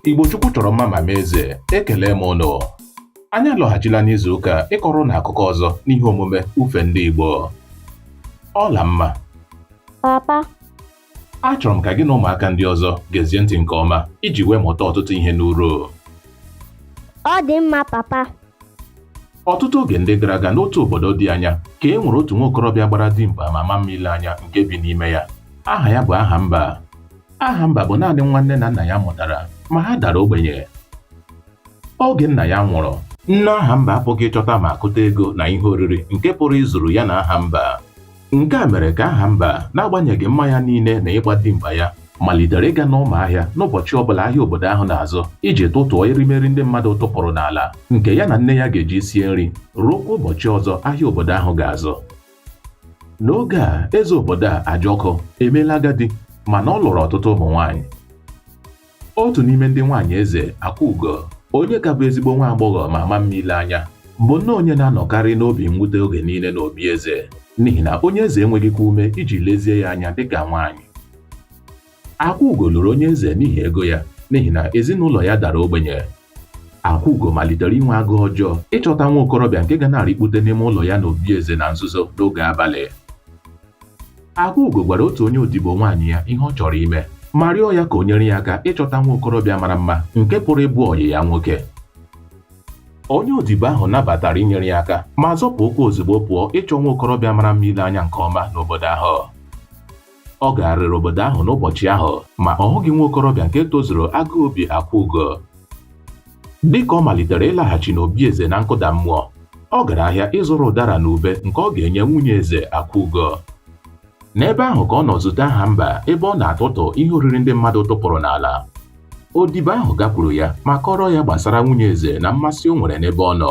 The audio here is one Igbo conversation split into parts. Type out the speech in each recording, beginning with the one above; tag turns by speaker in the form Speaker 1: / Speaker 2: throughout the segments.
Speaker 1: Igbo Chukwu chọrọ mma ma mee eze ekele m ụnụ anyị alọghachila n'izu ụka a ịkọrọ ụnụ akụkọ ọzọ n'ihe omume ufe ndị Igbo Ọlamma papa achọrọ m ka gị na ụmụaka ndị ọzọ gezie ntị nke ọma iji wee mụta ọtụtụ ihe
Speaker 2: n'uru ọ dị mma
Speaker 1: papa ọtụtụ oge ndị gara aga n'otu obodo dị anya ka e nwere otu nwa okorobịa gbara dimkpa ma ma mma ile anya nke bi n'ime ya aha ya bụ Ahamba Ahamba bụ naanị nwa nne na nna ya mụtara ma ha dara ogbenye oge nna ya nwụrụ nne Ahamba apụghị ịchọta ma kụta ego na ihe oriri nke pụrụ izuru ya na Ahamba nke a mere ka Ahamba n'agbanyeghị mma ya niile na ịgba dimkpa ya malitere ịga n'ụmụ ahịa n'ụbọchị ọbụla ahịa obodo ahụ na-azụ iji tụtụọ erimeri ndị mmadụ tụpụrụ n'ala nke ya na nne ya ga-eji sie nri ruokwa ụbọchị ọzọ ahịa obodo ahụ ga-azụ n'oge a eze obodo a Ajọkụ emeela agadi mana ọ lụrụ ọtụtụ ụmụ nwaanyị otu n'ime ndị nwaanyị eze Akwaugo onye ka bụ ezigbo nwa agbọghọ ma ma mma ile anya bụ nnọọ onye na-anọkarị n'obi mwute oge niile n'obi eze n'ihi na onye eze enweghịkwa ume iji lezie ya anya dịka nwaanyị Akwaugo lụrụ onye eze n'ihi ego ya n'ihi na ezinụlọ ya dara ogbenye. Akwaugo malitere inwe agụụ ọjọọ ịchọta nwa okorobịa nke ga na-arịkpute n'ime ụlọ ya n'obi eze na nzuzo n'oge abalị. Akwaugo gwara otu onye odibo nwaanyị ya ihe ọ chọrọ ime ma rịọ ya ka o nyere ya aka ịchọta nwa okorobịa mara mma nke pụrụ ịbụ ọyị ya nwoke. Onye odibo ahụ nabatara inyere ya aka ma zọpụ ụkwụ ozugbo pụọ ịchọ nwa okorobịa mara mma ile anya nke ọma n'obodo ahụ. Ọ gagharịrị obodo ahụ n'ụbọchị ahụ, ma ọ hụghị nwa okorobịa nke tozuru agụụ obi Akwaugo. Dị ka ọ malitere ịlaghachi n'obi eze na nkụda mmụọ, ọ gara ahịa ịzụrụ ụdara na ube nke ọ ga-enye nwunye eze Akwaugo. N'ebe ahụ ka ọ nọ zute Ahamba ebe ọ na-atụtụ ihe oriri ndị mmadụ tụpụrụ n'ala. Odibo ahụ gakwuru ya ma kọọrọ ya gbasara nwunye eze na mmasị o nwere n'ebe ọ nọ.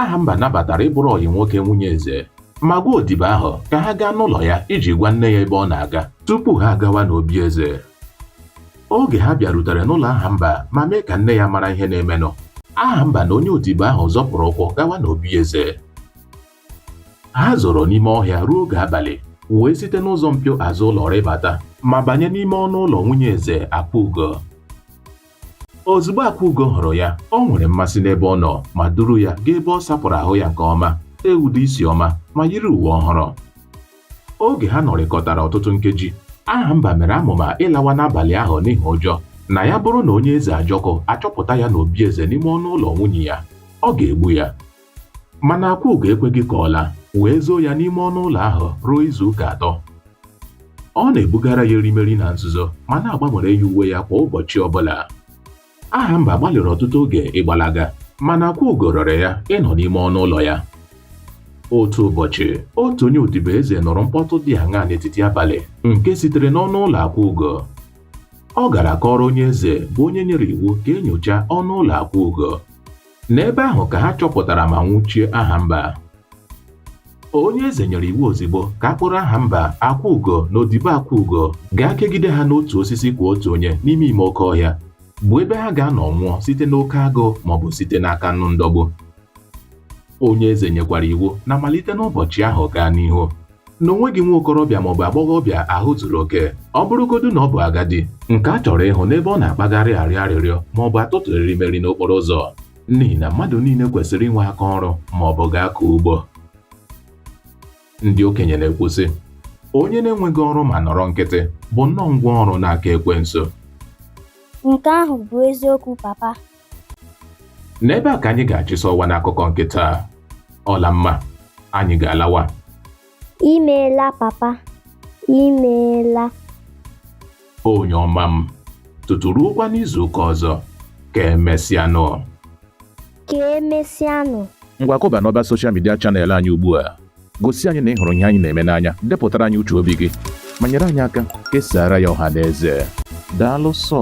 Speaker 1: Ahamba nabatara ịbụrụ ọyị nwoke nwunye eze ma gwa odibo ahụ ka ha gaa n'ụlọ ya iji gwa nne ya ebe ọ na-aga tupu ha agawa n'obi eze. Oge ha bịarutere n'ụlọ Ahamba ma mee ka nne ya mara ihe na-emenụ, Ahamba na onye odibo ahụ zọpụrụ ụkwụ gawa n'obi eze. Ha zoro n'ime ọhịa ruo oge abalị wee site n'ụzọ mpio azụ ụlọ rịbata ma banye n'ime ọnụ ụlọ nwunye eze Akwaugo. Ozugbo Akwaugo hụrụ ya, o nwere mmasị n'ebe ọ nọ ma duru ya gaa ebe ọ sapụrụ ahụ ya nke ọma, tee ude isi ọma ma yiri uwe ọhụrụ. Oge ha nọrịkọtara ọtụtụ nkeji, Ahamba mere amụma ịlawa n'abalị ahụ n'ihi ụjọ na ya bụrụ na onye eze Ajọkụ achọpụta ya n'obi eze n'ime ọnụ ụlọ nwunye ya, ọ ga-egbu ya. Mana Akwaugo ekweghị ka ọ laa, wee zoo ya n'ime ọnụ ụlọ ahụ ruo izu ụka atọ. Ọ na-ebugara ya erimeri na nzuzo ma na-agbanwere ya uwe ya kwa ụbọchị ọbụla. Ahamba gbalịrị ọtụtụ oge ịgbalaga mana Akwaugo rịọrọ ya ịnọ n'ime ọnụ ụlọ ya. Otu ụbọchị, otu onye odibo eze nụrụ mkpọtụ dị aṅaa n'etiti abalị nke sitere n'ọnụ ụlọ Akwaugo. Ọ gara kọọrọ onye eze bụ onye nyere iwu ka e nyochaa ọnụ ụlọ Akwaugo. N'ebe ahụ ka ha chọpụtara ma nwụchie Ahamba. Onye eze nyere iwu ozigbo ka a kpụrụ Ahamba, Akwaugo na odibo Akwaugo gaa kegide ha n'otu osisi kwa otu onye n'ime ime oke ọhịa, bụ ebe ha ga-anọ nwụọ site n'oke agụụ maọbụ site n'aka anụ ndọgbu. Onye eze nyekwara iwu na malite n'ụbọchị ahụ gaa n'ihu, na o nweghị nwa okorobịa maọbụ agbọghọbịa ahụ zuru oke ọ bụrụgodu na ọ bụ agadi nke a chọrọ ịhụ n'ebe ọ na-akpagharị arịọ arịrịọ maọbụ atụtụ erimeri n'okporo ụzọ n'ihi na mmadụ niile kwesịrị inwe aka ọrụ maọbụ gaa kọọ ugbo ndị okenye na-ekwu sị onye na-enweghị ọrụ ma nọrọ nkịtị bụ nnọọ ngwa ọrụ n'aka ekwensu
Speaker 2: Nke ahụ bụ eziokwu papa.
Speaker 1: n'ebe a ka anyị ga-achịsa ọwa n'akụkọ nke taa Ọlamma anyị ga-alawa
Speaker 2: imeela papa imeela
Speaker 1: onye ọma m tutu ruokwa n'izuụka ọzọ ka
Speaker 2: emesịanụ ka emesịanụ ngwa kụba
Speaker 3: n'ọba soshal midia chanel anyị ugbu a gosi anyị na ị hụrụ ihe anyị na-eme n'anya depụtara anyị uche obi gị ma nyere anyị aka kesara ya ọha na eze daalụ sọ